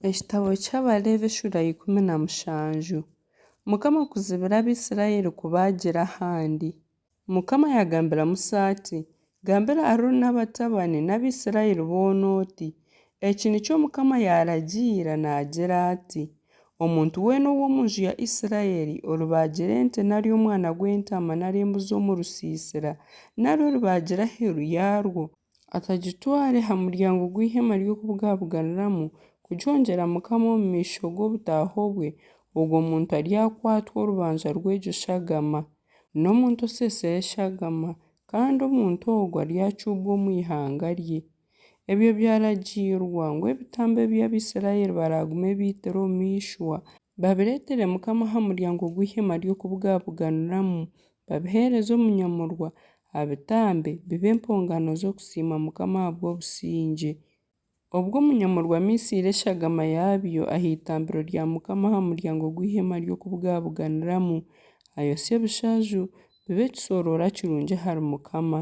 Ekitabo ky'Abareebi eshuura ya ikumi na mushanju. Mukama kuzibira Abaisiraeli kubaagira ahandi. Mukama yaagambira Musa ati, Gambira Arooni n'abatabani n'Abaisiraeli boona oti, Eki nikyo Mukama yaaragiira naagira ati, Omuntu weena ow'omu nju ya Isiraeli oribaagira ente nari omwana gw'entaama nari embuzi omu rusiisira, nari oribaagira aheeru yaarwo, Akagitwara aha muryango gw'eihema ry'okubugabuganiramu kugyongyera Mukama omu maisho g'obutaaho bwe, ogwo muntu aryakwatwa orubanja rw'egyo shagama. N'omuntu oseesire eshagama, kandi omuntu ogwo aryacuubwa omu ihanga rye. Ebyo byaragiirwa ngu ebitambo ebi Abaisraeli baraagume baitire omu ishwa, babireetere Mukama aha muryango gw'eihema ry'okubugabuganiramu, babiheereze omu nyamurwa, abitambe bibe empongano z'okusiima Mukama ahabw'obusingye. Obwo omu nyamurwa miisiire eshagama yaabyo aha itambiro rya Mukama aha muryango gw'eihema ry'okubugabuganiramu, ayosye ebishaaju, bibe ekisoroora kirungi ahari Mukama.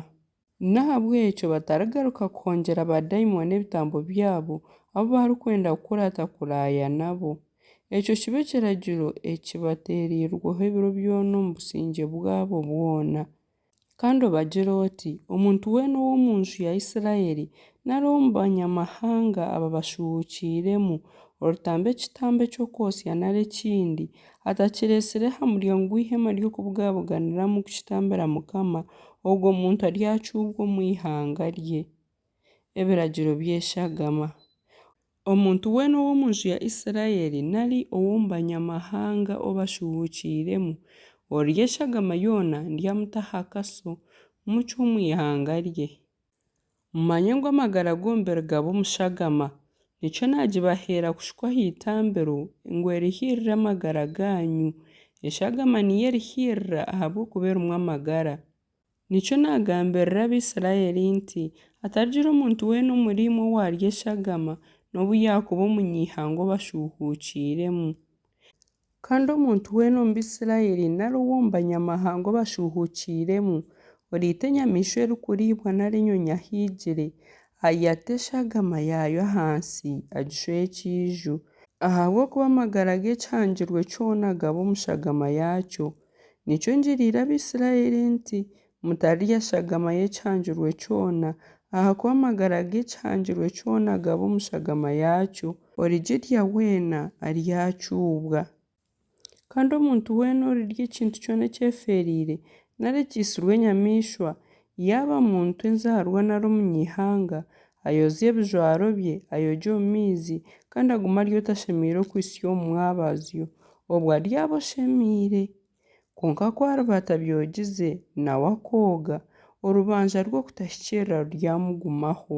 N'ahabw'ekyo batarigaruka kuhongyera baadaimoni ebitambo byabo, abu barikwenda kukuraata kuraaya nabo. Ekyo kibe ekiragiro ekibateereirweho ebiro byona omu busingye bwabo bwona. Kandi obagire oti, Omuntu weena ow'omu nju ya Isiraeli, nari ow'omu Banyamahanga aba bashuhuukiiremu, oritamba ekitambo eky'okwotsya nari ekindi, atakireetsire aha muryango gw'eihema ry'okubugabuganiramu kukitambira Mukama, Ogwo muntu aryacuubwa omu ihanga rye, ebiragiro byeshagama. Omuntu weena ow'omu nju ya Isiraeli nari ow'omu Banyamahanga ou bashuhuukiiremu, oryeshagama yoona ndyamuta aha kaso, mucwe omu ihanga rye. Mumanye ngu amagara g'omubiri gaba omu shagama, nikyo naagibaheera kushukwa aha itambiro, ngu erihiirire amagara gaanyu. Eshagama niyo erihiirira ahabw'okuba erimu amagara. Nikyo naagambirira Abaisiraeli nti, Hatarigira omuntu weena omuriimwe owaarya eshagama, n'obu yaakuba omunyaihanga obashuuhuukiiremu. Kandi omuntu weena omu Baisiraeli nari ow'omu Banyamahanga ou bashuuhuukiiremu, oriita enyamaishwa erikuriibwa nari enyonyi ahaigire, ayata eshagama yaayo ahansi, agishweho ekiiju. Ahabw'okuba amagara g'ekihangirwe kyona gaba omu shagama yaakyo, nikyo ngiriire Abaisiraeli nti, Mutarya eshagama y'ekihangirwe kyona, ahakuba amagara g'ekihangirwe kyona gaba omu shagama yaakyo. Origirya weena aryacuubwa. Kandi omuntu weena orirya ekintu kyona ekyefeereire, nari ekiitsirwe enyamaishwa, yaaba muntu, enzaarwa nari omunyaihanga, ayozye ebijwaro bye, ayogye omu maizi, kandi agume ari otashemeire okuhitsya omu mwabazyo, obwo aryaba oshemeire. Kwonka ku ariba atabyogize, nawe akooga, orubanja rw'okutahikirira ruryamugumaho.